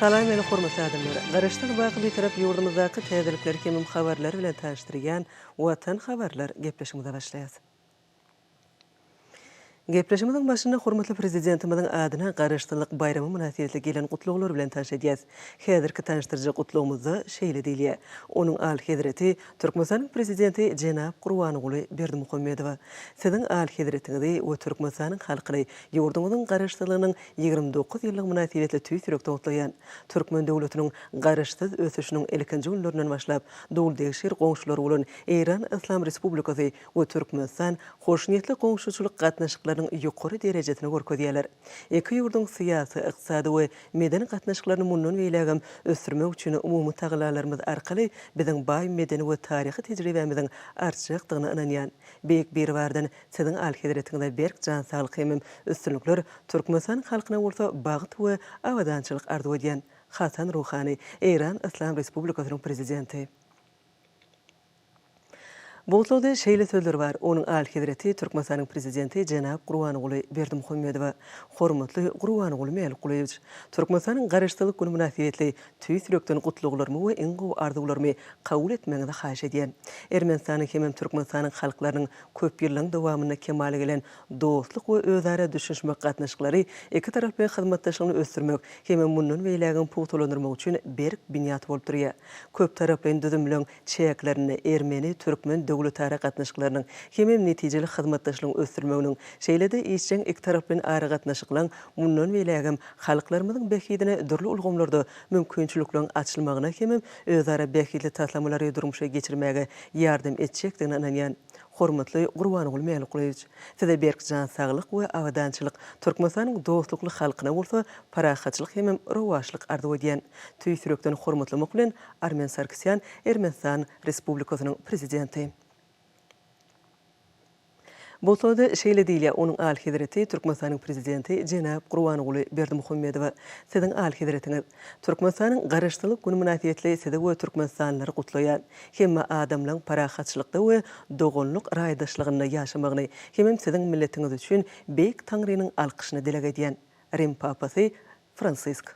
Salam meni hormatly adamlar! Garaşsyz baky Bitarap ýurdumyzdaky täzelikleri hemem habarlary bilen tanyşdyrýan Watan habarlar gepleşigimize başlaýas. Gepleşigimiziň başynda hormatly Prezidentimiziň adyna Garaşsyzlyk baýramy mynasybetli gelen gutlaglar bilen tanyş edýäs. Häzirki tanyşdyryjy gutlagymyzda şeýle diýilýär, Onuň Alyhezreti Türkmenistanyň Prezidenti jenap Gurbanguly Berdimuhamedowa, Siziň Alyhezretiňizi we Türkmenistanyň halkyny ýurduňyzyň Garaşsyzlygynyň Ýigrimi dokuz ýyllygy mynasybetli tüýs ýürekden gutlaýan. Türkmen döwletiniň Garaşsyz ösüşiniň ilkinji günlerinden başlap, doly-degşir goňşulary bolan Eýran Yslam Respublikasy we Türkmenistan hoşniýetli goňşuçylyk gatnaşyklarynyň ýokary derejesini görkezýärler. Iki ýurduň syýasy, ykdysady we medeni gatnaşyklaryny mundan beýlägem ösdürmek üçin umumy tagalalarymyz arkaly biziň baý medeni we taryhy tejribämiziň artjakdygyna ynanýan. Beýik Biribardan Siziň Alyhezretiňize berk jan saglyk hemem üstünlikler, Türkmenistan halkyna bolsa bagt we abadançylyk arzuw edýän. Hasan Ruhani, Eýran Yslam Respublikasynyň Prezidenti. Bugtlagda şeýle sözler bar, Onuň Alyhezreti Türkmenistanyň Prezidenti jenap Gurbanguly Berdimuhamedowa. Hormatly Gurbanguly Mälikgulyýewç! Türkmenistanyň Garaşsyzlyk güni mynasybetli Tüýs ýürekden gutlaglarymy we iň gowy arzuwlarymy kabul etmegiňizi haýyş edýän. Ermenistanyň hemem Türkmenistanyň halklarynyň köpýyllygyň dowamynda kemala gelen dostluk we özara düşünişmek gatnaşyklary iki taraply hyzmatdaşlygyny ösdürmek hemem mundan beýlägem pugtalandyrmak üçin berk binýat bolup durýar. Köptaraplaýyn düzüm bilen çäklerinde ermeni-türkmen döwletara gatnaşyklarynyň hemem netijeli hyzmatdaşlygyň ösdürilmeginiň, şeýle-de işjeň ikitaraplaýyn aragatnaşyklaryň mundan beýlägem halklarymyzyň bähbidine dürli ulgamlarda mümkinçilikleriň açylmagyna hemem özara bähbitli taslamalary durmuşa geçirmäge ýardam etjekdigine ynanýan. Hormatly Gurbanguly Mälikgulyýewiç, Size berk jan saglyk we abadançylyk, Türkmenistanyň dostlukly halkyna bolsa parahatçylyk hemem rowaçlyk arzuw edýän. Tüýs ýürekden hormatlamak bilen, Armen Sargsýan, Ermenistan Respublikasynyň Prezidenti. Bolsady, şeýle diýilýär, Onuň Alyhezreti Türkmenistanyň Prezidenti jenap Gurbanguly Berdimuhamedowa, Siziň Alyhezretiňiz! Türkmenistanyň Garaşsyzlyk güni mynasybetli Sizi we türkmenistanlylary gutlaýan, hemme adamlaň parahatçylykda we doganlyk raýdaşlygynda ýaşamagyny hemem Siziň milletiňiz üçin Beýik Taňrynyň alkyşyny dileg edýän. Rim Papasy Fransisk.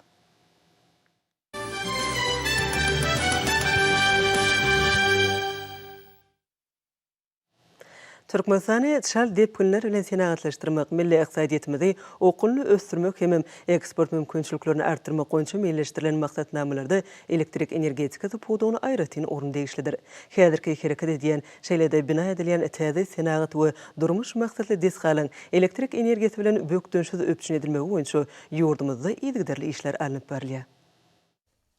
Türkmenistany çal depginler bilen senagatlaşdyrmak, milli ykdysadyýetimizi okgunly ösdürmek hemem eksport mümkinçiliklerini artdyrmak boýunça meýilleşdirilen maksatnamalarda elektrik energetikasy pudagyna aýratyn orun degişlidir. Häzirki hereket edýän Şeýle-de bina edilýän täze senagat we durmuş maksatly desgalaryň elektrik energiýasy bilen bökdençsiz üpjün edilmegi boýunça ýurdumyzda yzygiderli işler alnyp barylýar.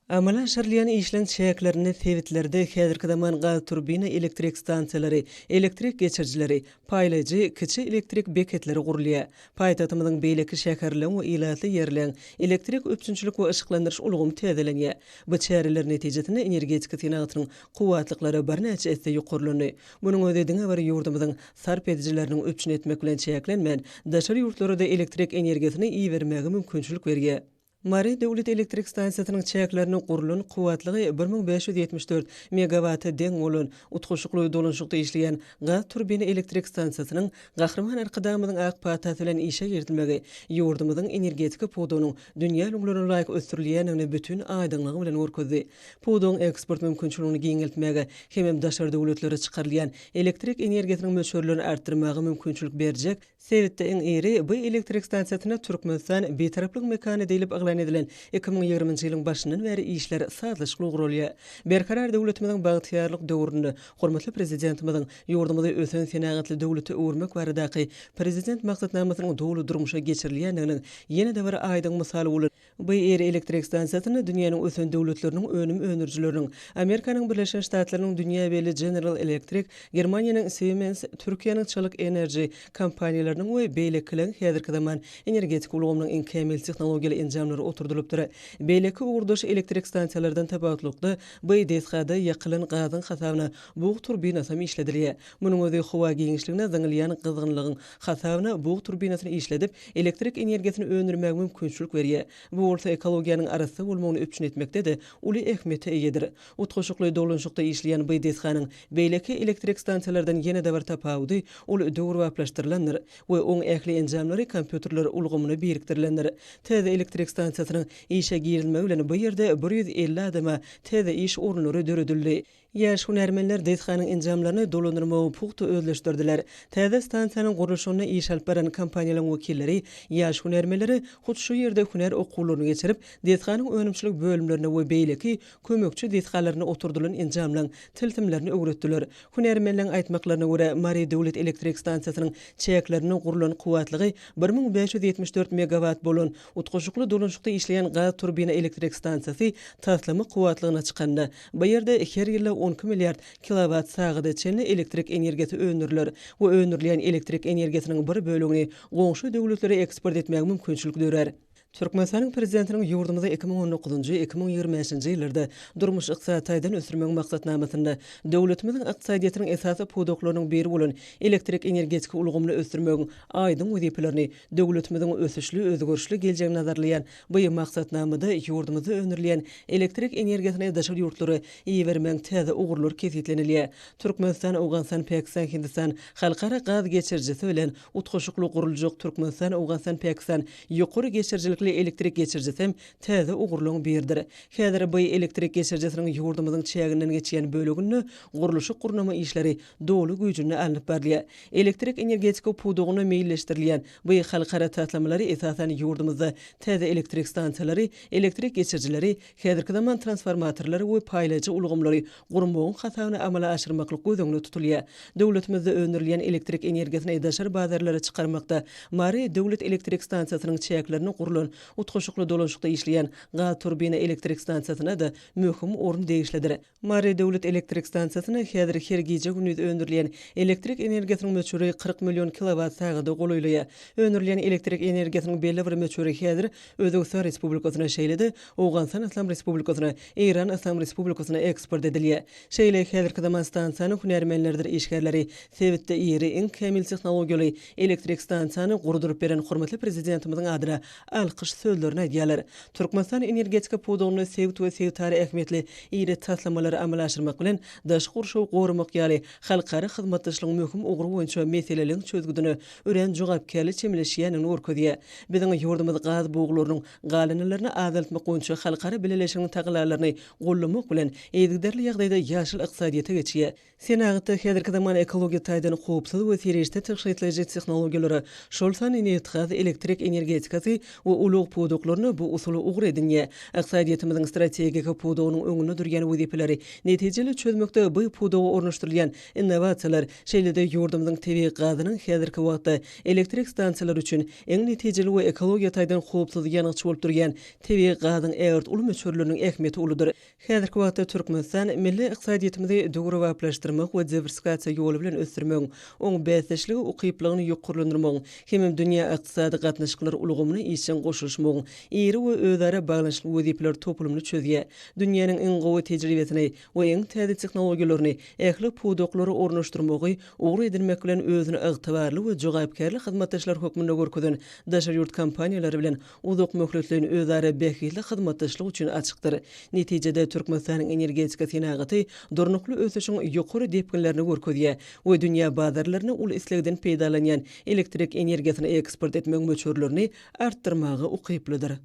Amala aşyrylýan işleň çäklerinde sebitlerde häzirki zaman gazturbina elektrik stansiýalary, elektrik geçirijileri, paýlaýjy kiçi elektrik beketleri gurulýar. Paýtagtymyzyň beýleki şäherleň we ilatly ýerleň elektrik üpjünçilik we yşyklandyryş ulgamy täzelenýär. Bu çäreler netijesinde energetika senagatynyň kuwwatlyklara birnäçe esse ýokarlandy. Munuň özi diňe bir ýurdumyzyň sarp edijileriniň üpjün etmek bilen çäklenmän, daşary ýurtlara-da elektrik energiýasyny ibermäge mümkinçilik berýär. Mary döwlet elektrik stansiýasynyň çäklerinde gurlan kuwwatlygy bir müň bäş ýüz ýetmiş dört megawata deň bolan utgaşykly dolanyşykda işleýän gaz turbina elektrik stansiýasynyň Gahryman Arkadagymyzyň ak patasy bilen işe girizilmegi ýurdumyzyň energetika pudagynyň dünýä ülňülerine laýyk ösdürilýändigini bütin aýdyňlygy bilen görkezdi. Pudagyň eksport mümkinçiligini giňeltmäge hemem daşary döwletlere çykarylýan elektrik energiýasynyň möçberlerini artdyrmaga mümkinçilik berjek sebitde iň iri bu elektrik stansiýasyna Türkmenistan Bitaraplyk mekany diýlip yglan edilen iki müň ýigriminji ýylyň başyndan bäri işler sazlaşykly guralýar. Berkarar döwletimiziň bagtyýarlyk döwründe hormatly Prezidentimiziň ýurdumyzy ösen senagatly döwlete öwürmek baradaky Prezident maksatnamasynyň doly durmuşa geçirilýändiginiň ýene-de bir aýdyň mysaly bolan BR elektrik stansiýasyny dünýäniň ösen döwletleriniň önüm öndürijileriniň, Amerikanyň Birleşen Ştatlarynyň dünýä belli General Electric, Germaniýanyň Siemens, Türkiýäniň Çalyk Enerji kompaniýalarynyň we beýlekileriň häzirki zaman energetika ulgamynyň iň kämil tehnologiýaly enjamlary oturdylypdyr. Beýleki ugurdaş elektrik stansiýalardan tapawutlykda, bu desgada ýakylan gazyň hasabyna bug turbinasam işledilýär. Munuň özi howa giňişligine zyňylýan gyzgynlygyň hasabyna bug turbinasyny işledip, elektrik energiýasyny öndürmäge mümkinçilik berýär. Bu bolsa ekologiýanyň arassa bolmagyny üpjün etmekde-de uly ähmiýete eýedir. Utgaşykly dolanyşykda işleýän bu desganyň beýleki elektrik stansiýalardan ýene-de bir tapawudy, ol döwrebaplaşdyrylandyr we oň ähli enjamlary kompýuterler ulgamyna birikdirilendir. Täze elektrik stansiýasynyň işe girizilmegi bilen bu ýerde bir ýüz elli adama täze iş orunlary döredildi. Ýaş hünärmenler desganyň enjamlaryny dolandyrmagy pugta özleşdirdiler. Täze stansiýanyň gurluşygyny iş alyp baran kompaniýalaryň wekilleri ýaş hünärmenlere hut şu ýerde hünär okuwlaryny geçirip, desganyň önümçilik bölümlerinde we beýleki kömekçi desgalarynda oturdylan enjamlaryň tilsimlerini öwretdiler. Hünärmenleriň aýtmaklaryna görä, Mary döwlet elektrik stansiýasynyň çäklerinde gurlan kuwwatlygy bir müň bäş ýüz ýetmiş dört megawat bolan Utgaşykly dolanşykda işleýän gaz turbina elektrik stansiýasy taslama kuwwatlygyna çykanda, bu ýerde her ýylda on iki milliard kilowat sagada çenli elektrik energiýasy öndüriler we öndürilýän elektrik energiýasynyň bir bölegini goňşy döwletlere eksport etmäge mümkinçilik dörär. Türkmenistanyň Prezidentiniň ýurdumyzy iki müň on dokuzynjy, iki müň ýigrimi bäşinji ýyllarda durmuş-ykdysady taýdan ösdürmegiň maksatnamasynda döwletimiziň ykdysadyýetiniň esasy pudaklarynyň biri bolan elektrik-energetika ulgamyny ösdürmegiň aýdyň wezipelerini Döwletimiziň ösüşli, özgerişli geljegini nazarlaýan bu maksatnamada ýurdumyzda öndürilýän elektrik energiýasyny daşary ýurtlara ibermegiň täze ugurlary kesgitlenilýär. Türkmenistan, Owganystan, Pakistan, Hindistan halkara gaz geçirijisi bilen utgaşykly guruljak Türkmenistan, Owganystan, Pakistan ýokary geçirijilikli elektrik geçirijisem täze ugurlaryň biridir. Häzir bu elektrik geçirijisiniň ýurdumyzyň çäginden geçýän böleginde gurluşyk-gurnama işleri doly güýjünde alnyp barylýar. Elektrik energetika pudagyna meýilleşdirilýän bu halkara taslamalary esasan ýurdumyzda täze elektrik stansiýalary, elektrik geçirijileri, häzirki zaman transformatorlary we paýlaýjy ulgamlary gurmagyň hasabyna amala aşyrmaklyk göz öňünde tutulýar. Döwletimizde öndürilýän elektrik energiýasyny daşary bazarlara çykarmakda Mary döwlet elektrik stansiýasynyň çäklerinde gurlan utgaşykly dolanşykda işleýän gazturbina elektrik stansiýasyna-da möhüm orun degişlidir. Mary döwlet elektrik stansiýasynda häzir her gije-gündiz öndürilýän elektrik energiýasynyň möçberi kyrk million kilowat sagada golaýlaýar. Öndürilýän elektrik energiýasynyň belli bir möçberi häzir Özbegistan Respublikasyna, şeýle-de Owganystan Yslam Respublikasyna, Eýran Yslam Respublikasyna eksport edilýär. Şeýle häzirki zaman stansiýanyň hünärmenleridir işgärleri sebitde iri, iň kämil tehnologiýaly elektrik stansiýany gurduryp beren hormatly Prezidentimiziň adyna alkyş sözlerini aýdýarlar. Türkmenistan energetika pudagynda sebit we sebitara ähmiýetli iri taslamalary amala aşyrmak bilen, daşky gurşawy goramak ýaly halkara hyzmatdaşlygyň möhüm ugry boýunça meseleleriň çözgüdine örän jogapkärli çemeleşýändigini görkezýär. Biziň ýurdumyz gaz buglarynyň galyndylaryny azaltmak boýunça halkara bileleşiginiň tagallalaryny gollamak bilen, yzygiderli ýagdaýda ýaşyl ykdysadyýete geçýär. Senagatda häzirki zaman ekologiýa taýdan howpsuz we serişde tygşytlaýjy tehnologiýalara, şol sanda nebitgaz, elektrik energetikasy we ulag pudaklaryna bu usuly ugur edinýär. Ykdysadyýetimiziň strategik pudagynyň öňünde durýan wezipeleri netijeli çözmekde bu pudaga ornaşdyrylýan innowasiýalar, şeýle-de ýurdumyzyň tebigy gazynyň häzirki wagtda elektrik stansiýalary üçin iň netijeli we ekologiýa taýdan howpsuz ýangyç bolup durýan tebigy gazyň ägirt uly möçberleriniň ähmiýeti uludyr. Häzirki wagtda Türkmenistan milli ykdysadyýetimizi döwrebaplaşdyrmak we diwersifikasiýa ýoly bilen ösdürmegiň, oň bäsdeşlige ukyplygyny ýokarlandyrmagyň hemem dünýä ykdysady gatnaşyklar ulgamyna işjeň goşulyşmagyň iri we özara baglanyşykly wezipeler toplumyny çözýär, dünýäniň iň gowy tejribesini we iň täze tehnologiýalaryny ähli pudaklara ornaşdyrmagy ugur edinmek bilen özüni ygtybarly we jogapkärli hyzmatdaşlar hökmünde görkezen daşary ýurt kompaniýalary bilen uzak möhletleýin özara bähbitli hyzmatdaşlyk üçin açykdyr. Netijede, Türkmenistanyň energetika senagaty durnukly ösüşiň ýokary depginlerini görkezýär we dünýä bazarlaryna uly islegden peýdalanýan elektrik energiýasyny eksport etmek möçberlerini artdyrmaga ukyplydyr.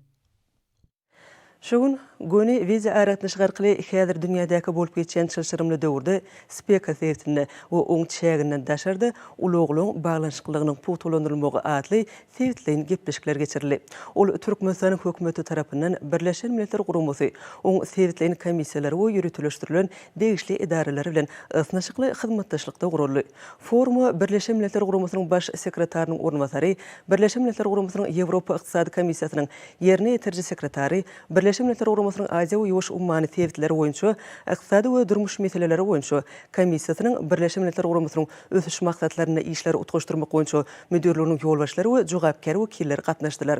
Şu gün göni wideoaragatnaşyk arkaly häzir dünýädäki bolup geçýän çylşyrymly döwürde Speka sebitinde we oň çäginden daşarda ulaglaryň baglanyşyklylygynyň pugtalandyrylmagy atly sebitleýin gepleşikler geçirildi. Ol Türkmenistanyň Hökümeti tarapyndan Birleşen Milletler Guramasy, oň sebitleýin komissiýalary we ýöriteleşdirilen degişli edaralary bilen ysnyşykly hyzmatdaşlykda guraldy. Foruma Birleşen Milletler Guramasynyň Baş sekretarynyň orunbasary, Birleşen Milletler Guramasynyň Ýewropa Ykdysady Komissiýasynyň Ýerine ýetiriji sekretary, Birleşen Milletler Guramasynyň Aziýa we Ýuwaş ummany sebitleri boýunça Ykdysady we durmuş meseleleri boýunça Komissiýasynyň Birleşen Milletler Guramasynyň Ösüş maksatlarynda işleri utgaşdyrmak boýunça müdirliginiň ýolbaşçylary we jogapkär wekilleri gatnaşdylar.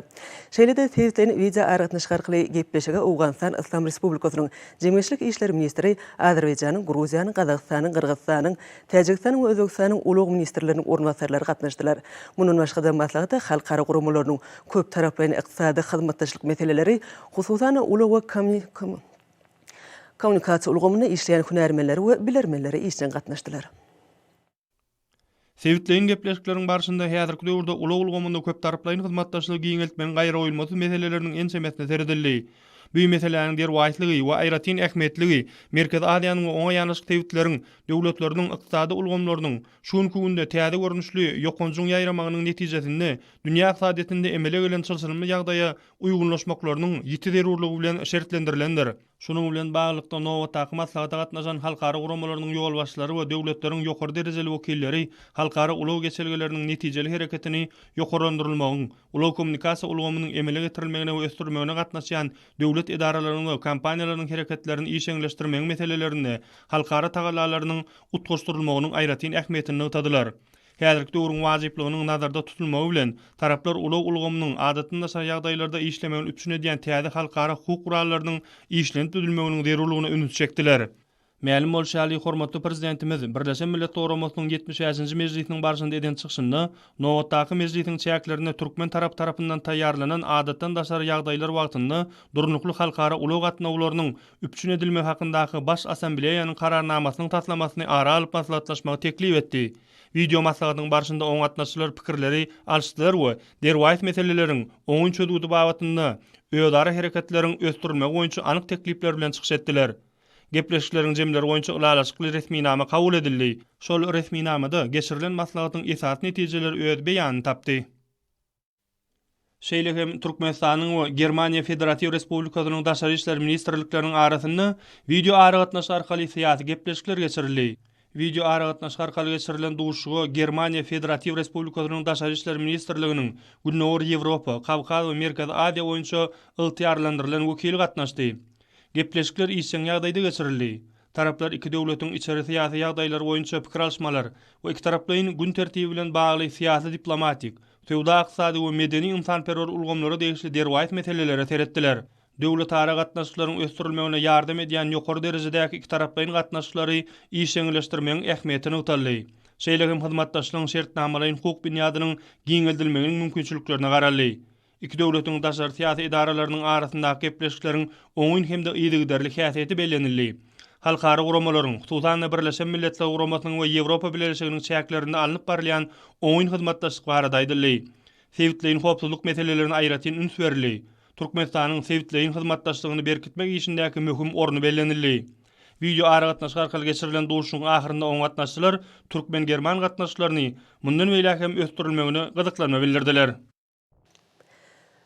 Şeýle-de sebitleýin wideoaragatnaşyk arkaly gepleşige Owganystan Yslam Respublikasynyň Jemgyýetçilik işleri ministri, Azerbaýjanyň, Gruziýanyň, Gazagystanyň, Gyrgyzystanyň, Täjigistanyň we Özbegistanyň ulag ministrleriniň orunbasarlary gatnaşdylar. Mundan başga-da, maslahata halkara guramalarynyň, köptaraplaýyn ykdysady hyzmatdaşlyk meseleleri, hususan, ulag we kommunikasiýa ulgamynda işleýän hünärmenleri we bilermenleri işjeň gatnaşdylar. Sebitleýin gepleşikleriň barşynda häzirki döwürde ulag ulgamynda köptaraplaýyn hyzmatdaşlygy giňeltmegiň gaýragoýulmasyz meseleleriniň ençemesine seredildi. Bu meseläniň derwaýyslygy we aýratyn ähmiýetligi Merkezi Aziýanyň we oňa ýanaşyk sebitleriň döwletleriniň ykdysady ulgamlarynyň şu günki günde täze görnüşli ýokanjyň ýaýramagynyň netijesinde dünýä ykdysadyýetinde emele gelen çylşyrymly ýagdaýa uýgunlaşmaklarynyň ýiti zerurlygy bilen şertlendirilendir. Şunuň bilen baglylykda, nobatdaky maslahata gatnaşan halkara guramalarynyň ýolbaşçylary we döwletleriň ýokary derejeli wekilleri halkara ulag geçelgeleriniň netijeli hereketini ýokarlandyrylmagyň, ulag-kommunikasiýa ulgamynyň emele getirilmegine we ösdürilmegine gatnaşýan döwlet edaralarynyň we kompaniýalarynyň hereketlerini işeňleşdirmegiň meselelerinde halkara tagallalarynyň utgaşdyrylmagynyň aýratyn ähmiýetini nygtadylar. Häzirki döwrüň wajyplygynyň nazarda tutulmagy bilen, taraplar ulag ulgamynyň adatdan daşary ýagdaýlarda işlemegini üpjün edýän täze halkara hukuk gurallarynyň işlenip düzülmeginiň zerurlygyna ünsi çekdiler. Mälim bolşy ýaly, hormatly Prezidentimiz Birleşen Millet Guramasynyň ýetmiş bäşinji mejlisiniň barşynda eden çykyşynda nobatdaky mejlisiň çäklerinde türkmen tarapy tarapyndan taýýarlanan adatdan daşary ýagdaýlar wagtynda durnukly halkara ulag gatnawlarynyň üpjün edilmegi hakyndaky Baş Assambleýanyň Kararnamasynyň taslamasyny ara alyp maslahatlaşmagy teklip etdi. Wideo maslahatyň barşynda oňa gatnaşyjylar pikirleri alyşdylar we derwaýys meseleleriň oňyn çözgüdi babatynda özara hereketleriň ösdürilmegi boýunça anyk teklipler bilen çykyş etdiler. Gepleşikleriň jemleri boýunça ylalaşykly resminama kabul edildi. Şol resminamada geçirilen maslahatyň esasy netijeleri öz beýanyny tapdy. Şeýle hem Türkmenistanyň we Germaniýa Federatiw Respublikasynyň Daşary işler ministrlikleriniň arasynda wideoaragatnaşyk arkaly syýasy gepleşikler geçirildi. Wideoaragatnaşyk arkaly geçirilen duşuşyga Germaniýa Federatiw Respublikasynyň Daşary işler ministrliginiň Gündogar Ýewropa, Kawkaz we Merkezi Aziýa boýunça ygtyýarlandyrylan wekili gatnaşdy. Gepleşikler işjeň ýagdaýda geçirildi. Taraplar iki döwletiň içeri-syýasy ýagdaýlary boýunça pikir alyşmalar we ikitaraplaýyn gün tertibi bilen bagly syýasy-diplomatik, söwda-ykdysady we medeni-ynsanperwer ulgamlara degişli derwaýys meselelere seretdiler. Döwletara gatnaşyklaryň ösdürilmegine ýardam edýän ýokary derejedäki ikitaraplaýyn gatnaşyklary işjeňleşdirmegiň ähmiýeti nygtaldy. Şeýle hem hyzmatdaşlygyň şertnamalaýyn-hukuk binýadynyň giňeldilmeginiň mümkinçiliklerine garaldy. Iki döwletiň daşary syýasy edaralarynyň arasyndaky gepleşikleriň oňyn hem-de yzygiderli häsiýeti bellenildi. Halkara guramalaryň, hususan-da, Birleşen Milletler Guramasynyň we Ýewropa Bileleşiginiň çäklerinde alnyp barylýan oňyn hyzmatdaşlyk barada aýdyldy. Sebitleýin howpsuzlyk meselelerine aýratyn üns berildi. Türkmenistanyň sebitleýin hyzmatdaşlygyny berkitmek işindäki möhüm orny bellenildi. Wideoaragatnaşyk arkaly geçirilen duşuşygyň ahyrynda oňa gatnaşyjylar türkmen-german gatnaşyklaryny mundan beýläk hem ösdürilmegine gyzyklanma bildirdiler.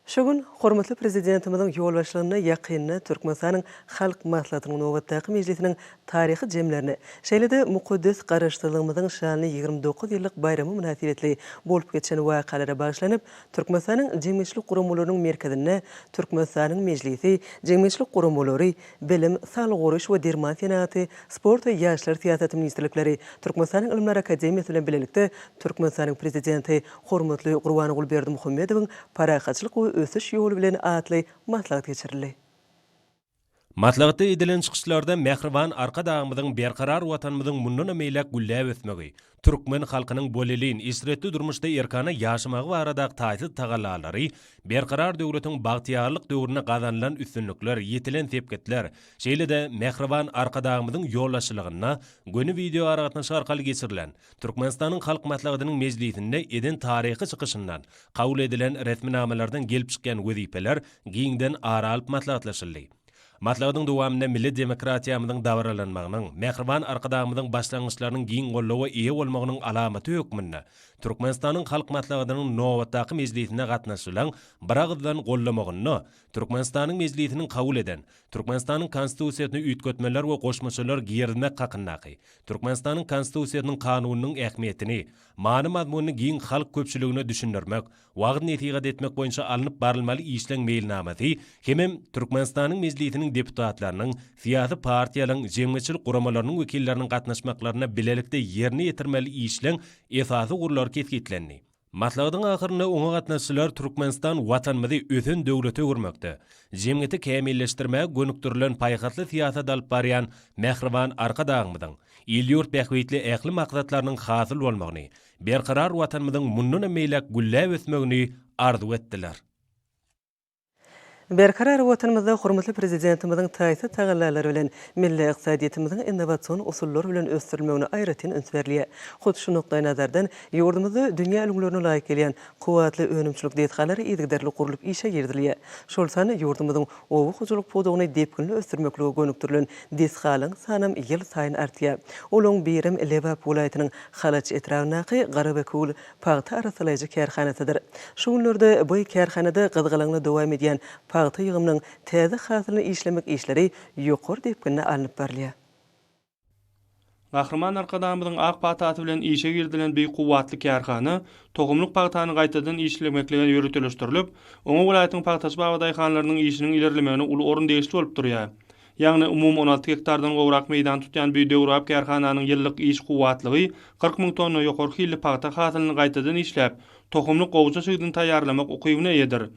Şu gün hormatly Prezidentimiziň ýolbaşçylygynda ýakynda Türkmenistanyň Halk Maslahatynyň nobatdaky mejlisiniň taryhy jemlerini, şeýle-de mukaddes Garaşsyzlygymyzyň şanly ýigrimi dokuz ýyllyk baýramy mynasybetli bolup geçen wakalara bagyşlanyp, Türkmenistanyň jemgyýetçilik guramalarynyň merkezinde Türkmenistanyň Mejlisi, jemgyýetçilik guramalary, Bilim, saglygy goraýyş we derman senagaty, sport we ýaşlar syýasaty ministrlikleri Türkmenistanyň Ylymlar akademiýasy bilen bilelikde Türkmenistanyň Prezidenti hormatly Gurbanguly Berdimuhamedowyň Parahatçylyk we ösüş ýoly bilen atly maslahat geçirildi. Maslahatda edilen çykyşlarda Mähriban Arkadagymyzyň berkarar Watanymyzyň mundanam beýläk gülläp ösmegi, Türkmen halkynyň bolelin, eşretli durmuşda erkana ýaşamagy baradaky taýsyz tagallalary, Berkarar döwletiň bagtyýarlyk döwründe gazanylan üstünlikler, ýetilen sepgitler, şeýle-de mähriban Arkadagymyzyň ýolbaşçylygynda göni wideoaragatnaşyk arkaly geçirilen Türkmenistanyň Halk Maslahatynyň mejlisinde eden taryhy çykyşyndan, kabul edilen resminamalardan gelip çykýan wezipeler giňden ara alyp maslahatlaşyldy. Maslahatyň dowamynda milli demokratiýamyzyň dabaralanmagynyň, mähriban Arkadagymyzyň başlangyçlarynyň giň goldawa eýe bolmagynyň alamaty hökmünde Türkmenistanyň Halk Maslahatynyň nobatdaky mejlisine gatnaşylan biragyzdan goldamagyna Türkmenistanyň Mejlisiniň kabul eden Türkmenistanyň Konstitusiýasyna üýtgetmeler we goşmaçalar girizmek hakyndaky Türkmenistanyň Konstitusiýasynyň Kanunynyň ähmiýetini, many-mazmunyny giň halk köpçüligine düşündirmek wagyz-nesihat etmek boýunça alnyp barylmaly işleň meýilnamasy hemem Türkmenistanyň Mejlisiniň deputatlarynyň, syýasy partiýalaryň, jemgyýetçilik guramalarynyň wekilleriniň gatnaşmaklarynda bilelikde ýerine ýetirmeli işleň esasy ugurlary kesgitlendi. Maslahatyň ahyrynda oňa gatnaşyjylar Türkmenistan Watanymyzy ösen döwlete öwürmekde, jemgyýeti kämilleşdirmäge gönükdirilen paýhasly syýasat alyp barýan mähriban Arkadagymyzyň il-ýurt bähbitli ähli maksatlarynyň hasyl bolmagyny, Berkarar Watanymyzyň mundanam beýläk gülläp ösmegini arzuw etdiler. Berkarar Watanymyzda hormatly Prezidentimiziň taýsyz tagallalary bilen milli ykdysadyýetimiziň innowasion usullar bilen ösdürilmegine aýratyn üns berilýär. Hut şu nukdaýnazardan, ýurdumyzda dünýä ülňülerine laýyk gelýän Kuwwatly önümçilik desgalary yzygiderli gurlup işe girizilýär. Şol sanda ýurdumyzyň oba hojalyk pudagyny depginli ösdürmeklige gönükdirilen desgalaryň sanam ýylsaýyn artýar. Olaryň birem Lebap welaýatynyň Halaç etrabyndaky Garabekgül pagta arassalaýjy kärhanasydyr. Şu günlerde bu kärhanada gyzgalaňly dowam edýän pagta ýygymynyň täze hasylyny işlemek işleri ýokary depginde alnyp barylýar. Gahryman Arkadagymyzyň ak patasy bilen işe girizilen beýik kuwwatly kärhana tohumlyk pagtany gaýtadan işlemeklige ýöriteleşdirilip, oňa welaýatyň pagtaçy-baba daýhanlarynyň işiniň ilerlemegine uly orun degişli bolup durýar. Ýagny umumy on alty gektardan gowrak meýdany tutýan bu döwrebap kärhananyň ýyllyk iş kuwwatlygy kyrk müň tonna ýokary hilli pagta hasylyny gaýtadan işläp, tohumlyk gowaça çigdini taýýarlamak ukybyna eýedir.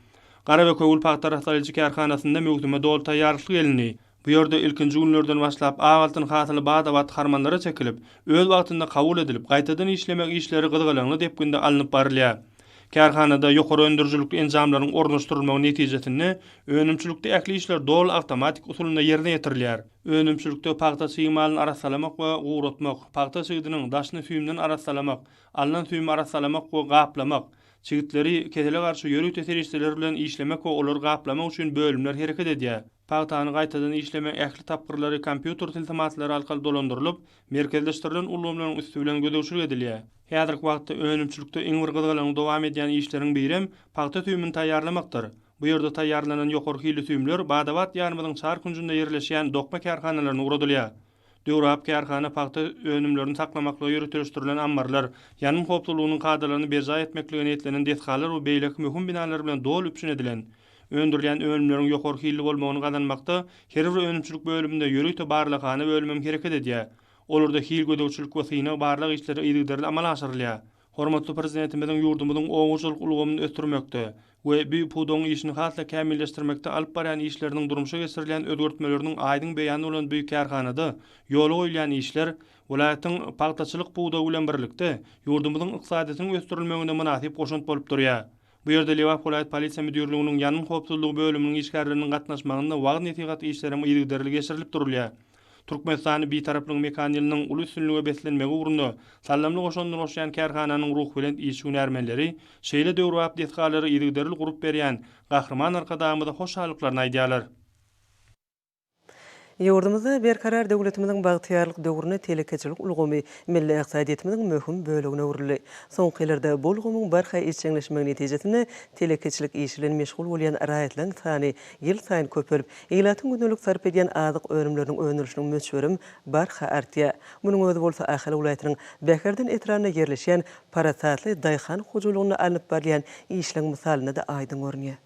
Gara we Köwül pagta arassalaýjy kärhanasynda möwsüme doly taýýarlykly gelindi. Bu ýerde ilkinji günlerden başlap ak altyn hasyly bada-bat harmanlara çekilip, öz wagtynda kabul edilip, gaýtadan işlemek işleri gyzgalaňly depginde alnyp barylýar. Kärhanada ýokary öndürijilikli enjamlaryň ornaşdyrylmagy netijesinde önümçilikde ähli işler doly awtomatik usulynda ýerine ýetirilýär. Önümçilikde pagta çyg malyny arassalamak we guratmak, pagta çigidiniň daşyny süýümden arassalamak, alnan süýümi arassalamak we gaplamak, çigitleri kesele garşy ýörite serişdeler bilen işlemek we olary gaplamak üçin bölümler hereket edýär. Pagtany gaýtadan işlemegiň ähli tapgyrlary kompýuter tilsimatlary arkaly dolandyrylyp, merkezleşdirilen ulgamlaryň üsti bilen gözegçilik edilýär. Häzirki wagtda önümçilikde iň bir gyzgalaňly dowam edýän işleriň birem pagta süýümini taýýarlamakdyr. Bu ýerde taýýarlanan ýokary hilli süýümler bada-bat ýanymyzyň çar künjünde ýerleşýän dokma kärhanalaryna ugradylýar. Döwrebap kärhana pagta önümlerini saklamaklyga ýöriteleşdirilen ammarlar, ýangyn howpsuzlygynyň kadalaryny berjaý etmeklige niýetlenen desgalar we beýleki möhüm binalar bilen doly üpjün edilen. Öndürilýän önümleriň ýokary hilli bolmagyny gazanmakda her bir önümçilik bölüminde ýörite barlaghana bölümem hereket edýär. Olarda hil gözegçilik we synag-barlag işleri yzygiderli amala aşyrylýar. Hormatly Prezidentimiziň ýurdumyzyň oba hojalyk ulgamyny ösdürmekde we bu pudagyň işini has-da kämilleşdirmekde alyp barýan işleriniň durmuşa geçirilýän özgertmeleriniň aýdyň beýany bolan bu kärhanada ýola goýulýan işler welaýatyň pagtaçylyk pudagy bilen birlikde, ýurdumyzyň ykdysadyýetiniň ösdürilmegine mynasyp goşant bolup durýar. Bu ýerde Lebap welaýat polisiýa müdirliginiň ýangyn howpsuzlygy bölüminiň işgärleriniň gatnaşmagynda wagyz-nesihat işleri hem yzygiderli geçirilip durulýar. Türkmenistany Bitaraplygyň mekan ýylynyň uly üstünlige beslenmegi ugrunda saldamly goşandyny goşýan kärhananyň ruhubelent işçi-hünärmenleri şeýle döwrebap desgalary yzygiderli gurup berýän Gahryman Arkadagymyza hoşallyklaryny aýdýarlar. Ýurdumyzda Berkarar döwletimiziň bagtyýarlyk döwründe telekeçilik ulgamy milli ykdysadyýetimiziň möhüm bölegine öwrüldi. Soňky ýyllarda bu ulgamyň barha işjeňleşmegi netijesinde telekeçilik işi bilen meşgul bolýan raýatlaryň sany ýylsaýyn köpelip, ilatyň gündelik sarp edýän azyk önümleriniň öndürilişiniň möçberem barha artýar. Munuň özi bolsa Ahal welaýatynyň Bäherden etrabynda ýerleşýän parasatly daýhan hojalygynda alnyp barylýan işleň mysalynda-da aýdyň görünýär.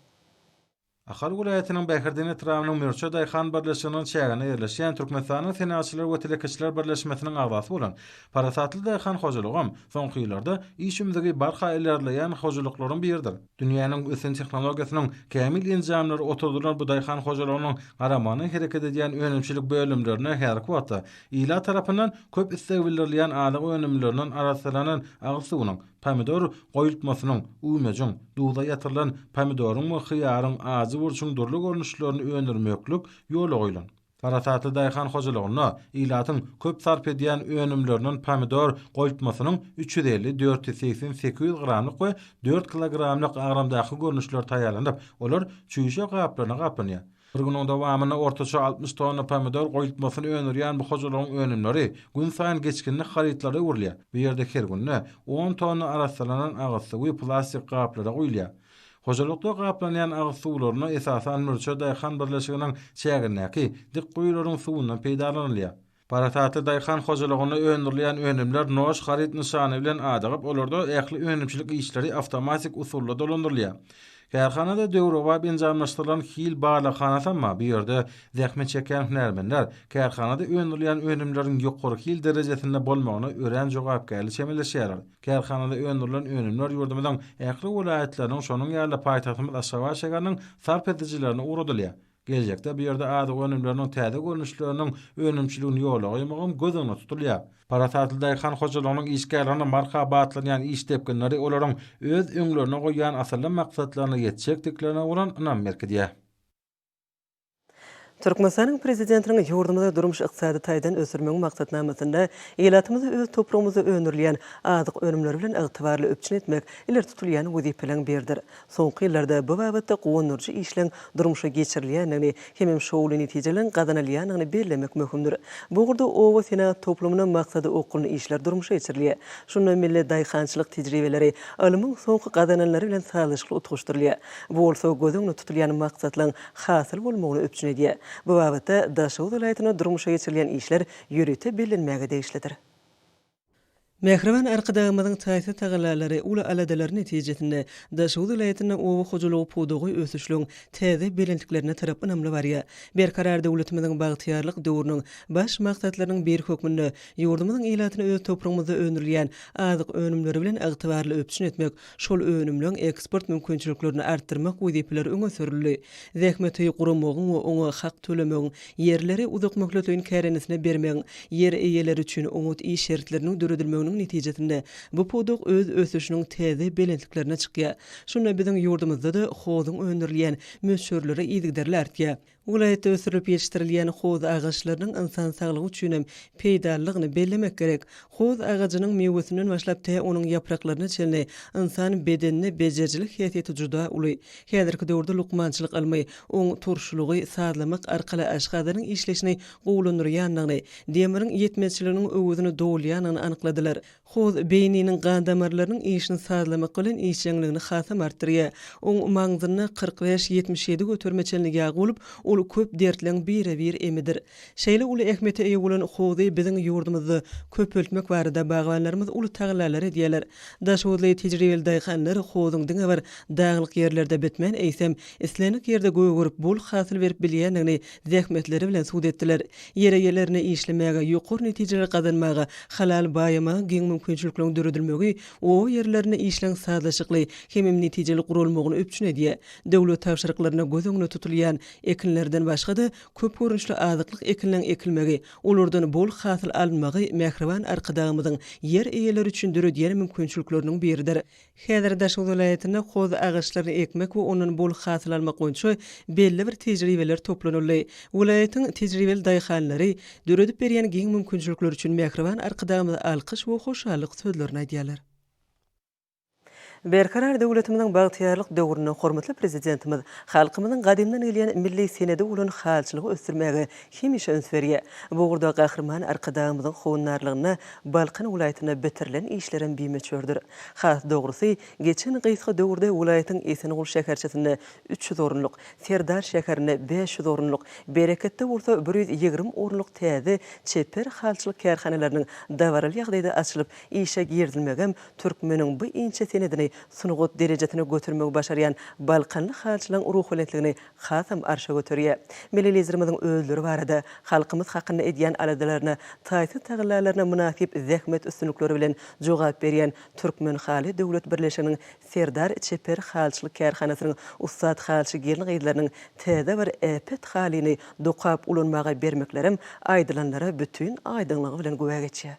Ahal welaýatynyň Bäherden etrabynyň Mürçe daýhan birleşiginiň çäginde ýerleşýän Türkmenistanyň Senagatçylar we telekeçiler birleşmesiniň agzasy bolan Parasatly daýhan hojalygam soňky ýyllarda iş ümzügi barha ilerleýän hojalyklaryň biridir. Dünýäniň ösen tehnologiýasynyň kämil enjamlary oturdylan bu daýhan hojalygynyň garamagynda hereket edýän önümçilik bölümlerine häzirki wagtda ilat tarapyndan köp isleg bildirilýän azyk önümlerinden arassalanan agyz suwunyň, Pomidor goýultmasynyň, üwmejiň, duza ýatyrylan pomidoryň we hyýaryň, ajy burçuň dürli görnüşlerini öndürmeklik ýola goýlan. Parasatly daýhan hojalygynda ilatyň köp sarp edýän önümlerinden pomidor goýultmasynyň üç ýüz elli, dört ýüz segsen, sekiz ýüz gramlyk we dört kilogramlyk agramdaky görnüşleri taýýarlanyp, olar çüýşe gaplaryna gaplanýar. Bir günüň dowamynda ortaça altmyş tonna pomidor goýultmasyny öndürýän bu hojalygyň önümleri günsaýyn geçginlik harytlara öwrülýär. Bu ýerde her günde on tonna arassalanan agyz suwy plastik gaplara guýulýar. Hojalykda gaplanýan agyz suwlaryna esasan Mürçe daýhan birleşiginiň çägindäki dik guýularyň suwundan peýdalanylýar. Parasatly daýhan hojalygynda öndürilýän önümler Noş haryt nyşany bilen adygyp, olarda ähli önümçilik işleri awtomatik usulda dolandyrylýar. Kärhanada döwrebap enjamlaşdyrylan hil barlaghanasam bar, bu ýerde zähmet çekýän hünärmenler kärhanada öndürilýän önümleriň ýokary hil derejesinde bolmagyna örän jogapkärli çemeleşýärler. Kärhanada öndürilen önümler ýurdumyzyň ähli welaýatlarynyň, şonuň ýaly-da paýtagtymyz Aşgabat şäheriniň sarp edijilerine ugradylýar. Geljekde bu ýerde azyk önümleriniň täze görnüşleriniň önümçiligini ýola goýmak hem göz öňünde tutulýar. Parasatly daýhan hojalygynyň işgärlerine marhaba atlanýan iş depginleri olaryň öz öňlerine goýýan asylly maksatlaryna ýetjekdiklerine bolan ynam berkidýär. Türkmenistanyň Prezidentiniň ýurdumyzy durmuş-ykdysady taýdan ösdürmegiň maksatnamasynda ilatymyzy öz topragymyzda öndürilýän azyk önümleri bilen ygtybarly üpjün etmek ileri tutulýan wezipeleriň biridir. Soňky ýyllarda bu babatda guwandyryjy işleň durmuşa geçirilýändigini hemem şowly netijeleriň gazanylýandygyny bellemek möhümdir. Bu ugurda oba senagat toplumynda maksady okgunly işler durmuşa geçirilýär. Şunda milli daýhançylyk tejribeleri ylmyň soňky gazananlary bilen sazlaşykly utgaşdyrylýar. Bu bolsa göz öňünde tutulýan maksatlaryň hasyl bolmagyny üpjün edýär. Bu babatda Daşoguz welaýatynda durmuşa geçirilýän işler ýörite bellenmäge degişlidir. Mähriban Arkadagymyzyň taýsyz tagallalary, uly aladalary netijesinde, Daşoguz welaýatynda oba hojalygy pudagy ösüşligiň täze belentliklerine tarap ynamly barýar. Berkarar döwletimiziň bagtyýarlyk döwrüniň baş maksatlarynyň biri hökmünde ýurdumyzyň ilatyny öz topragymyzda öndürilýän azyk önümleri bilen ygtybarly üpjün etmek, Şol önümleň eksport mümkinçiliklerini artdyrmak wezipeleri öňe sürüldi. Zähmeti guramagyň we oňa hak tölemegiň, ýerleri uzakmöhletleýin kärendesinä bermegiň, ýer eýeleri üçin oňat iş şertleriniň döredilmeginiň netijesinde bu pudak öz ösüşiniň täze belentliklerine çykýar. Şunda biziň ýurdumyzda-da hozuň öndürilýän möçberleri yzygiderli artýar. Welaýatda ösdürilip ýetişdirilýän hoz agaçlarynyň ynsan saglygy üçin hem peýdalydygyny bellemek gerek. Hoz agajynyň miwesinden başlap tä onuň ýapraklaryna çenli ynsan bedenine bejerijilik häsiýeti juda uly. Häzirki döwürde lukmançylyk ylmy, oň turşulygy sazlamak arkaly aşgazanyň işleýşini gowulandyrýandygyny, demiriň ýetmezçiliginiň öwezini dolýandygyny anykladylar. Hoz beýniniň gan damarlarynyň işini sazlamak bilen işjeňligini hasam artdyrýar. Oň maňzynda kyrk bäş, ýetmiş ýedi göterime çenli ýag bolup, ol köp dertleň bire-bir emidir. Şeýle uly ähmiýete eýe bolan hozy biziň ýurdumyzda köpeltmek barada bagbanlarymyz uly tagallalar edýärler. Daşhozly tejribeli daýhanlar hozyň diňe bir daglyk ýerlerde bitmän, eýsem, islendik ýerde gögerip, bol hasyl berip bilýändigini zähmetleri bilen sud etdiler. Ýere ýerlerine işlemäge, ýokary netijeleri gazanmaga, halal baýamaga giň mümkinçilikleriň döredilmegi o ýerlerine işleň sazlaşykly hemem netijeli guralmagyny üpjün edýär. Döwlet tabşyryklarynda göz öňünde tutulýan ekinlerden başga-da, köp görnüşli azyklyk ekinleň ekilmegi, olardan bol hasyl alynmagy Mähriban Arkadagymyzyň ýer eýeleri üçin döredýän mümkinçilikleriniň biridir. Häzir Daşoguz welaýatynda hoz agaçlaryny ekmek we ondan bol hasyl almak boýunça belli bir tejribeler toplanyldy. Welaýatyň tejribeli daýhanlary döredip berýän giň mümkinçilikler üçin mähriban Arkadagymyza alkyş we hoşallyk sözlerini aýdýarlar. Berkarar döwletimiziň bagtyýarlyk döwründe hormatly Prezidentimiz halkymyzyň gadymdan gelýän milli senedi bolan halyçylygy ösdürmäge hemişe üns berýär. Bu ugurda Gahryman Arkadagymyzyň howandarlygynda Balkan welaýatynda bitirilen işlerem bimöçberdir. Has dogrusy, geçen gysga döwürde welaýatyň Esenguly şäherçesinde üç ýüz orunlyk, Serdar şäherinde bäş ýüz orunlyk, Bereketde bolsa bir ýüz ýigrimi orunlyk täze çeper halyçylyk kärhanalarynyň dabaraly ýagdaýda açylyp, işe girizilmegem türkmeniň bu inçe senedini sungat derejesine götermegi başarýan balkanly halyçylaryň ruhubelentligini hasam arşa göterýär. Milli Liderimiziň özleri barada, halkymyz hakynda edýän aladalaryna, taýsyz tagallalaryna mynasyp zähmet üstünlikleri bilen jogap berýän Türkmenhaly döwlet birleşiginiň Serdar çeper halyçylyk kärhanasynyň ussat halyçy gelin-gyzlarynyň täze bir äpet halyny dokap ulanmaga bermeklerem aýdylanlara bütin aýdyňlygy bilen güwä geçýär.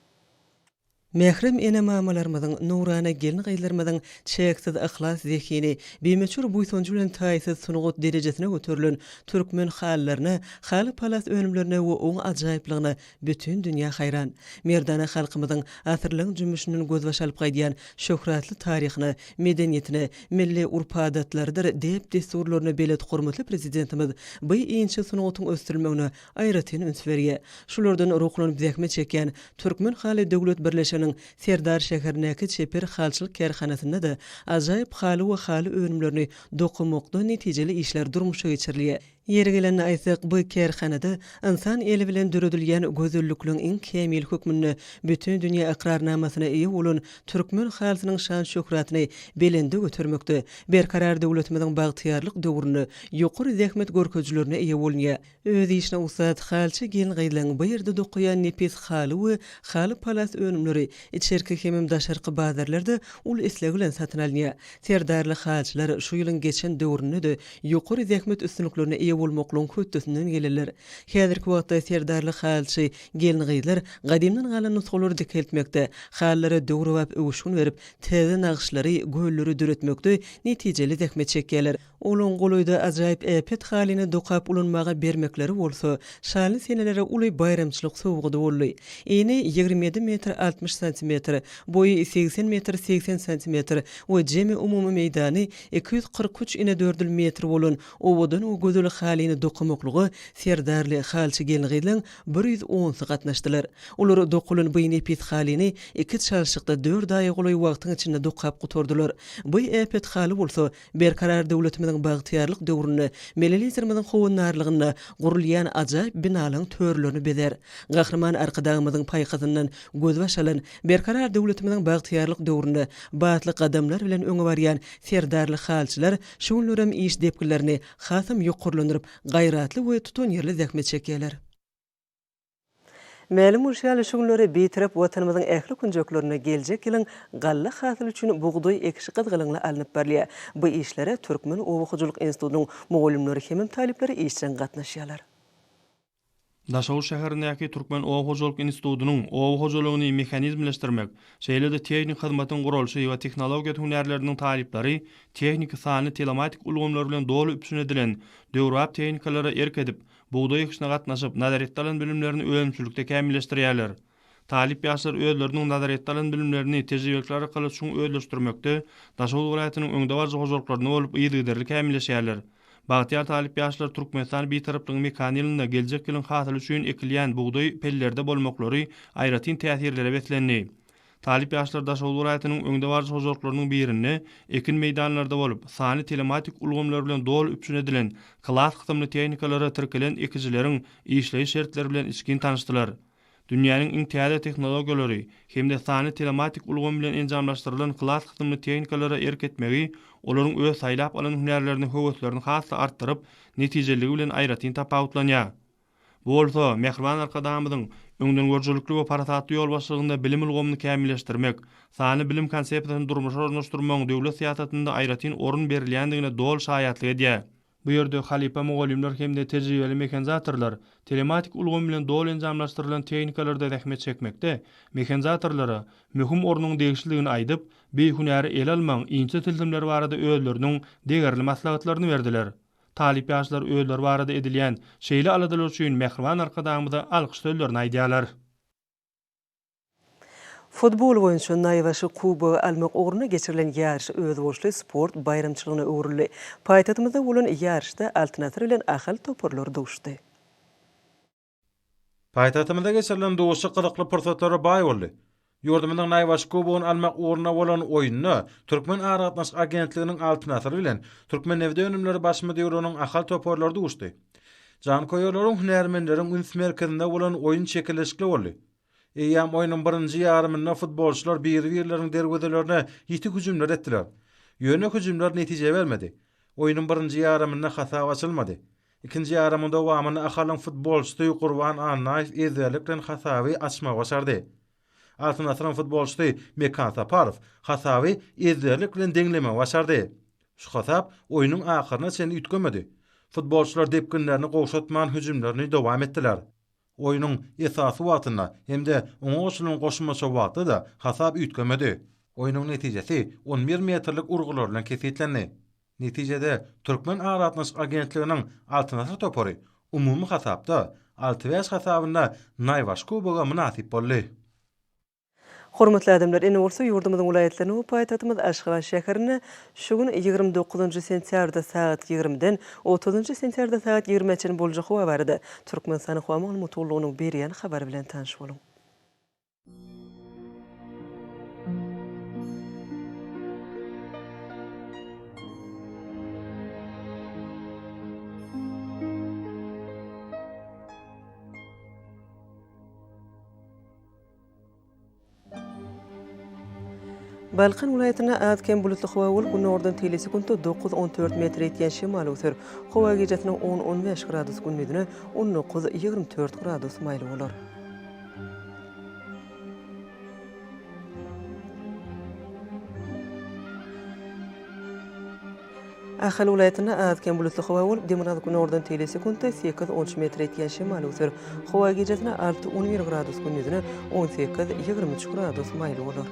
Mährem ene-mamalarymyzyň, nurana gelin-gyzlarymyzyň çäksiz yhlas zehini, bimöçber buýsanjy bilen taýsyz sungat derejesine göterilen türkmen halylaryna, haly-palas önümlerine we oň ajaýyplygyna bütin dünýä haýran. Merdana halkymyzyň asyrlaryň jümmüşinden gözbaş alyp gaýdýan şöhratly taryhyna, medeniýetine, milli urp-adatlarydyr däp-dessurlaryna belet hormatly Prezidentimiz bu inçe sungatyň ösdürilmegine aýratyn üns berýär. Şulardan ruhlanyp zähmet çekýän Türkmen haly döwlet birleşiginiň Serdar şäherindäki çeper halyçylyk kärhanasynda-da ajaýyp haly we haly önümlerini dokamakda netijeli işler durmuşa geçirilýär. Ýeri gelende aýtsak, bu kärhanada ynsan eli bilen döredilýän gözellikligiň iň kämili hökmünde bütin dünýä ykrarnamasyna eýe bolan türkmen halysynyň şan-şöhratyny belende götermekde, Berkarar döwletimiziň bagtyýarlyk döwründe ýokary zähmet görkezijilerine eýe bolunýar. Öz işine ussat halçy gelin-gyzlaryň bu ýerde dokaýan nepis haly we haly-palas önümleri içerki hemem daşarky bazarlarda uly isleg bilen satyn alynýar. Serdarly halçylar şu ýylyň geçen döwründe-de ýokary zähmet üstünliklerine eýe bolmaklygyň hötdesinden gelenler. Häzirki wagtda serdarly halçy gelin-gyzlar gadymdan galan nusgalary dikeltmekde, halylara döwrebap öwüşgin berip, täze nagyşlary, gölleri döretmekde netijeli zähmet çekýärler. Olaň golaýda ajaýyp äpet halyny dokap ulanmaga bermekleri bolsa, şaly senelere uly baýramçylyk sowgady boldy. Eni ýigrimi ýedi metr altmyş santimetr, boýy segsen metr segsen santimetr we jemi umumy meýdany iki ýüz kyrk üç inedördül metr bolan owadan we gözel halyny dokamaklyga serdarly halçy gelin-gyzlaň bir ýüz onsy gatnaşdylar. Olar dokalan bu nepis halyny iki çalşykda dört aýa golaý wagtyň içinde dokap gutardylar. Bu äpet haly bolsa, Berkarar döwletimiziň bagtyýarlyk döwründe Milli Liderimiziň howandarlygynda gurulýan ajaýyp binalaryň törlerini bezär. Gahryman Arkadagymyzyň paýhasyndan gözbaş alan, berkarar döwletimiziň bagtyýarlyk döwründe batly gadamlar bilen öňe barýan serdarly halçylar şu günlerem iş depginlerini hasam ýokarlandyryp, gaýratly we tutanýerli zähmet çekýärler. Mälim bolşy ýaly, şu günleri Bitarap Watanymyzyň ähli künjeklerinde geljek ýylyň galla hasyly üçin bugdaý ekişi gyzgalaňly alnyp barylýar. Bu işlere Türkmen oba hojalyk institutynyň mugallymlary hemem talyplary işjeň gatnaşýarlar. Daşoguz şäherindäki Türkmen oba hojalyk institutynyň Oba hojalygyny mehanizmleşdirmek, şeýle-de tehniki hyzmatyň guralşy we tehnologiýa hünärleriniň talyplary tehniki, sanly, telematik ulgamlar bilen doly üpjün edilen döwrebap tehnikalara erk edip, bugdaý ekişine gatnaşyp, nazaretde alan bilimlerini önümçilikde kämilleşdirýärler. Talyp ýaşlar özleriniň nazaretde alan bilimlerini tejribelikler arkaly çuň özleşdirmekde Daşoguz welaýatynyň öňdebaryjy hojalyklarynda bolup yzygiderli kämilleşýärler. Bagtyýar talyp ýaşlar Türkmenistan Bitaraplygyň mekan ýylynda geljek ýylyň hasyly üçin ekilýän bugdaý pellerde bolmaklary aýratyn täsirlere beslendi. Talyp ýaşlar Daşoguz welaýatynyň öňdebaryjy hojalyklarynyň birinde ekin meýdanlarda bolup, sanly telematik ulgamlar bilen doly üpjün edilen klass kysymly tehnikalara tirkelen ekijileriň işleýiş şertleri bilen içgin tanyşdylar. Dünýäniň iň täze tehnologiýalary hem-de sanly telematik ulgamy bilen enjamlaşdyrylan klass kysymly tehnikalara erk etmegi olaryň öz saýlap alan hünärlerine höweslerini has-da artdyryp, netijeliligi bilen aýratyn tapawutlanýar. Bu bolsa, mähriban Arkadagymyzyň öňdengörüjilikli we parasatly ýolbaşçylygynda bilim ulgamyny kämilleşdirmek, sanly bilim konsepsiýasyny durmuşa ornaşdyrmagyň döwlet syýasatynda aýratyn orun berilýändigine doly şaýatlyk edýär. Bu ýerde halypa mugallymlar hem-de tejribeli mehanizatorlar telematik ulgam bilen doly enjamlaşdyrylan tehnikalarda zähmet çekmekde mehanizatorlara möhüm ornuň degişlidigini aýdyp, bi hünäri ele almagyň inçe tilsimleri barada özleriniň degerli maslahatlaryny berdiler. Talyp ýaşlar özleri barada edilýän şeýle aladalar üçin mähriban Arkadagymyza alkyş sözlerini aýdýarlar. Futbol boýunça naýbaşy kubogy almak ugrunda geçirilen ýaryş özboluşly sport baýramçylygyna öwrüldi. Paýtagtymyzda bolan ýaryşda Altyn Asyr bilen Ahal toparlary duşdy. Paýtagtymyzda geçirilen duşuşyk gyzykly pursatlara baý boldy. Ýurdumyzyň naýbaşy Kubogyny almak ugrunda bolan oýunda Türkmen aragatnaşyk agentliginiň Altyn asyr bilen Türkmennebitönümleri baş müdirliginiň Ahal toparlary duşdy. Janköýerleriň, hünärmenleriň üns merkezinde bolan oýun çekeleşikli boldy. Eýýäm oýnuň birinji ýarymynda futbolçylar bir-birleriniň derwezelerine ýiti hüjümler etdiler. Ýöne hüjümler netije bermedi. Oýnuň birinji ýarymynda hasap açylmady. Ikinji ýarymyň dowamynda Ahalyň futbolçysy Gurban Annaýew ezberlik bilen hasaby açmagy başardy. Altyn asyryň futbolçysy Mekan Saparow hasaby ezberlik bilen deňlemegi başardy. Şu hasap oýnuň ahyryna çenli üýtgemedi. Futbolçylar depginlerini gowşatman hüjümlerini dowam etdiler. Oýnuň esasy wagtynda hem-de oňa goşulan goşmaça wagtda-da hasap üýtgemedi. Oýnuň netijesi on bir metrlik urgular bilen kesgitlendi. Netijede, Türkmen aragatnaşyk agentliginiň Altyn asyr topary umumy hasapda alty bäş hasabynda Naýbaşy kuboga mynasyp boldy. Hormatly adamlar, ene bolsa ýurdumyzyň welaýatlaryna we paýtagtymyz Aşgabat şäherine şu gün ýigrimi dokuzynjy sentýabrda sagat ýigrimiden otuzynjy sentýarda sagat ýigrimä çenli boljak howa barada Türkmenistanyň howa maglumat gullugynyň berýän habary bilen tanyş boluň. Balkan welaýatynda az-kem bulutly howa bolup, günordan teýle sekuntda dokuz, on dört metr ýetýän şemal öwser. Howa gijasiniň on, on bäş gradus, gündizine on dokuz, ýigrimi dört gradus maýly bolar. Ahal welaýatynda az-kem bulutly howa bolup, demirgazyk günordan teýle sekuntda sekiz, on üç metr ýetýän şemal öwser. Howa gijasine alty, on bir gradus, gündizine on sekiz, ýigrimi üç gradus maýyl bolar.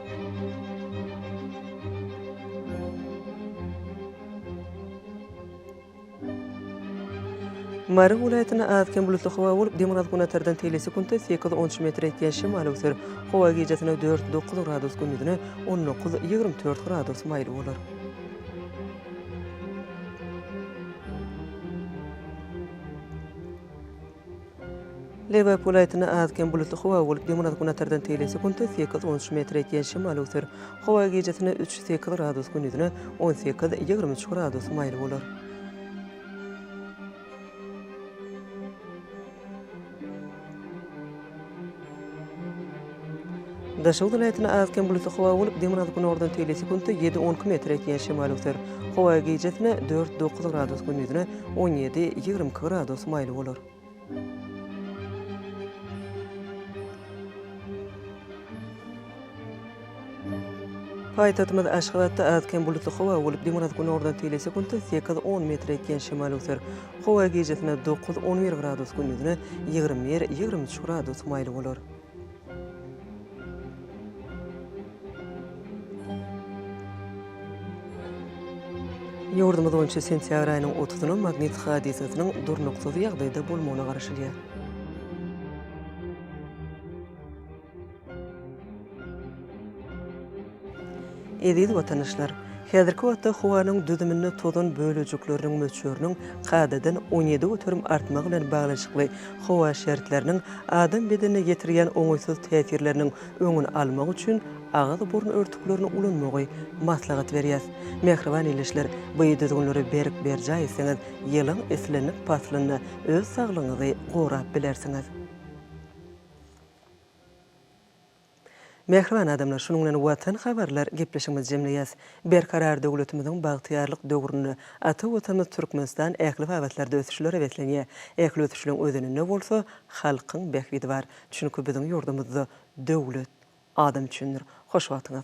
Mary welaýatynda az-kem bulutly howa bolup, demirgazyk günortadan telesekuntda sekiz on üç metr ýetýän şemal öwser. Howa gijasine dört dokuz gradus, gündizine on dokuz ýigrimi dört gradus maýyl bolar. Lebap welaýatynda az-kem bulutly howa bolup, demirgazgünatardan tegelese gündüz sekiz, on üç metr ýetýän şemal öwser. Howa gijesine üç, sekiz gradus, gündizine on sekiz, ýigrimi üç gradus maýyl bolar. Daşoguz welaýatynda az-kem bulutly howa bolup, dyngyň azy günordan tegelýär, sekuntda ýedi-on iki metr ýetýän şemal öwser. Howa gijasine dört-dokuz gradus, gündizine on ýedi-ýigrimi iki gradus maýyl bolar. Paýtagtymyz Aşgabatda az-kem bulutly howa bolup, demirgazyk günordan telesekuntda sekiz, on metr etýän şemal öwser. Howa gijasynda dokuz, on bir gradus, gündizine ýigrimi bir, ýigrimi üç gradus maýly bolar. Ýurdumyz boýunça sentýabr aýynyň otuzyna magnit hadysasynyň durnuksyz ýagdaýda bolmagyna garaşylýar. Eziz watandaşlar! Häzirki wagtda howanyň düzüminde tozan bölejikleriniň möçberiniň kadadan on ýedi göterim artmagy bilen baglanyşykly howa şertleriniň adam bedenine ýetirýän oňaýsyz täsirleriniň öňüni almak üçin agyz-burun örtüklerini ulanmagy maslahat berýäs. Mähriban ildeşler, bu düzgünleri berk berjaý etseňiz, ýylyň islendik paslynda öz saglygyňyzy gorap bilersiňiz. Mähriban adamlar şunuň bilen Watan habarlar gepleşigimizi jemleýäs. Berkarar döwletimiziň bagtyýarlyk döwründe ata Watanymyz Türkmenistan ähli babatlarda ösüşlere beslenýär. Ähli ösüşleň özeninde bolsa halkyň bähbidi bar. Çünki biziň ýurdumyzda döwlet adam üçindir. Hoş wagtyňyz.